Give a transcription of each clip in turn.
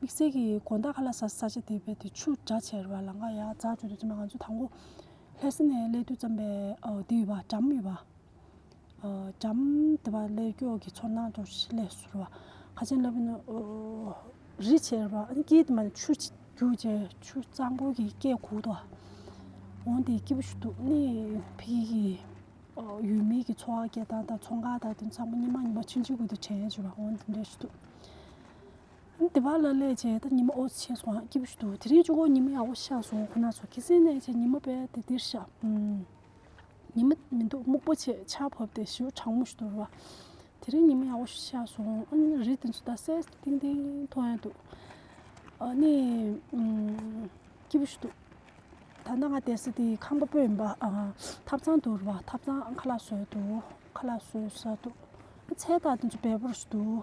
དམིགས་བསལ་གྱི་དགོན་བདག་ཁ་ལ་ས་ས་ཆ་དེ་བས་ཏེ་ཆུ་སྒྲ་ཆེར་བ་ལང་ཀ་ཡ་རྫ་བརྗོད་དུ་ཅི་མ་ག་ཚོད་དང་པོ་ལྷས་སེ་ནས་སླས་དུས་བརྩམས་པའི་དེ་ཡོད་པ་གྲམ་ཡོད་པ། གྲམ་དེ་བ་ལས་སྐྱོགས་ཀྱི་ཚོར་སྣང་དོར་ཞིང་ལས་སུ་རུ་བ་ཁ་ཆེན་ལབ་ནི་རི་ཆེར་བ་ཨ་ནི་སྐྱིད་དེ་མ་ནི་ཆུ་རྒྱུག་ཆེ་ཆུ་གཙང་པོ་གི་སྐད་གུག་ཏུ་བ་འོང་དེ་སྐྱིད་པོ་ཞིག་འདུག་གནས་འཕེལ་གྱི་གི་ཡུལ་མིའི་གི་འཚོ་བ་སྐད་གདངས་དང་ཚོང་ཁང་དང་དེ་ཚང་མ་ཉི་མ་ཉི་མ་ཆིག་ཆིག་གུ་དུ་དྲན་ཡས་བྱེད་པ་འོང་དེ་འདྲ་ཞིག་འདུག། དེ་བ་ལ་ལས་བྱས་ད་ཉི་མ་ཨོ་ཕྱེད་སོང་སྐྱིད་པོ་ཞིག་འདུག་དེ་རིང་བཅུ་གོ་ཉི་མ་ཡག་པོ་ཤར་སོང་ཁོ་ན་ཚོ་ཁྱི་སེང་ནས་བྱས་ཉི་མ་པས་དེ་འདིར་བཞག་ཉི་མ་མི་འདུག་སྨུག་པོ་ཆེ་ཆ་བབས་ཏེ་ཞེའུ་གྲང་མོ་ཞིག་འདུག་རེད་བ། དེ་རིང་ཉི་མ་ཡག་པོ་ཞིག་ཤར་སོང་ཨ་ནི་རི་དེ་ཚོ་ད་སད་སད་ཐིང་ཐིང་མཐོང་ཡ་འདུག་ཨ་ནི་སྐྱིད་པོ་ཞིག་འདུག་ད་ལྟ་ང་དེ་སི་དེའི་ཁང་པ་པོ་ཡིན་པ་ཐབ་ཚང་འདུག་རེད་བ་ཐབ་ཚང་ཨ་ཁ་ལག་བཟོས་འདུག་ཁ་ལག་བཟོས་ས་འདུག་ཨ་ཚལ་དག་དེ་ཚོ་བལ་པོ་རུ་ཞིག་འདུག།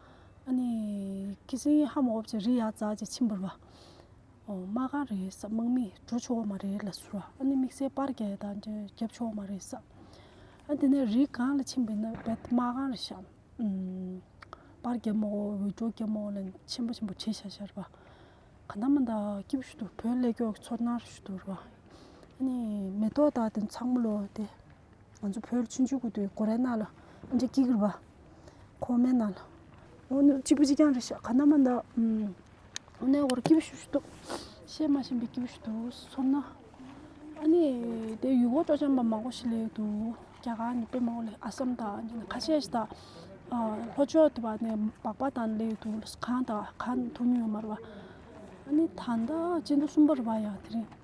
ཁྱི་སེང་ཧ་མོ་འོབས་ཀྱི་རི་ཡག་རྫ་ཀྱི་ཕྱི་འབུར་བ། རྨ་ག་རེ་ས་དམག་མིས་གྲུ་ཆུ་བོ་མ་རེ་ལ་ཟུར་བ་ཨ་ནི་དམིགས་བསལ་པར་གས་དང་འདྲེ་རྒྱབ་ཆུ་བོ་མ་རེ་ས། ཨ་དེ་ནས་རི་གང་ལ་ཕྱི་འབུད་ན་བད་དམག་གང་རེ་ཤམ། པར་རྒྱབ་མོ་འོད་སྒྲོ་རྒྱབ་མོ་ལན་ཆེན་པོ་ཆེན་པོ་བྲིས་ཤར་ཤར་བ། ག་འདམ་མ་འདའ་སྐྱིད་པོ་ཞུ་འདུག་བོད་སླེ་སྐྱོག་གི་ཚོར་སྣང་རེ་ཞུ་འདུག་བ། ཨ་ནི་མེ་ཏོག་དག་དེ་ཚང་མ་ལོ་དེ། ང་ཚོ་བོད་ཕྱི་འཇུག་གི་དུས་གོ་རེ་ན་ལ་ཨ་འདྲེ་སྐྱིད་གི་བ། ཁོ་མེད་ན་ལ་འོ་ན་གཅིག་པུ་གཅིག་རྐྱང་རེད་ཤག་ག་ན་མ་འདའ་འོ་ན་འོ་ར་སྐྱིད་པོ་ཞུ་ཞུ་འདུག་བཤད་མ་བཞིན་པའི་སྐྱིད་པོ་ཞུ་འདུག་ཚོར་ན་ཨ་ནི་དེ་ཡུལ་སྐོར་སྤྲོ་འཆམ་པ་མང་པོ་ཞིག་ལས་འདུག་རྒྱ་གར་ནས་དཔོན་མང་པོ་ལས་ཨ་སམ་དང་ཁ་ཤས་ཤིག་དང་ལྷོ་ཕྱོགས་དེ་བ་ནས་སྦག་སྦག་དང་ལས་འདུག་གང་དང་གང་ཐུག་མྱོང་ཡོད་མ་རེད་པ་ཨ་ནི་ད་ལྟ་སྤྱི་ཟླ་གསུམ་པ་རེད་པ་ཡང་དེ་རིང་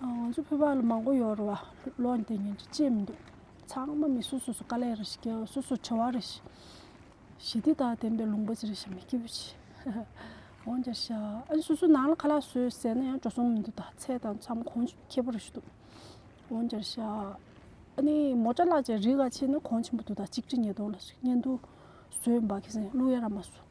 ང་ཚོ་ཕོད་པ་ལ་མང་པོ་ཡོད་རེད་བ་ལོ་འདི་ཉིན་གྱི་ཅེས་མི་འདུག་ཚང་མ་མི་སུ་སུ་སུ་དཀའ་ལས་རེ་ཞིག་གི་སུ་སུ་བྱ་བ་རེ་ཞིག་ཞི་བདེ་དང་ལྡན་པའི་ལུང་པ་ཅི་རེ་ཞིག་མི་སྐྱིད་པོ་བྱེད་འོང་བྱ་ཤ་ཨ་སུ་སུ་ནང་ལ་ཁ་ལག་ཟོས་ཟས་ན་ཡང་འགྲོ་སོང་མི་འདུག་ད་ཚད་དང་འཚམ་གོང་ཆུ་ཁེ་པོ་རེ་ཞིག་འདུག་འོང་བྱ་ཤ་ཨ་ནི་མོ་ཏྲ་ལགས་ཀྱི་རིགས་ག་ཆེ་ནི་གོང་ཆེན་པོ་འདུག་ད་གཅིག་ཁྲི་ཉིས་སྟོང་ལ་ཟོས་འབག་གིས་ཟིན་གླུ་ཡ་ར་མ་ཟོས།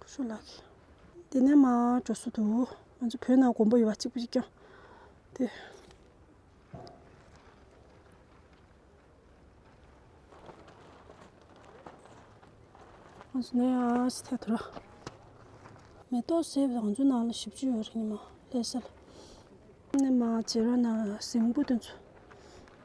བུ་ཆུང་ལགས་ཀྱིས། འདི་ནས་མ་འགྲོ་སྲོལ་དུ། ང་ཚོ་བོད་ནང་མགོན་པོ་ཡོད་པ་གཅིག་པུ་ཞིག་ཀྱང། དེ། ང་ཚོ་ནས་ཨ་ཕྱི་ཐད་དུ་ལ། མེ་ཏོག་སེར་བོ་རང་ཚོའི་ནང་ལ་བཞི་བཅུ་ཡོད་རེད་ནི་མ་ལྷས་ས་ལ། ནས་མ་བྱེ་ར་ན་གཟིམ་དགོས་དོན་ཚོ།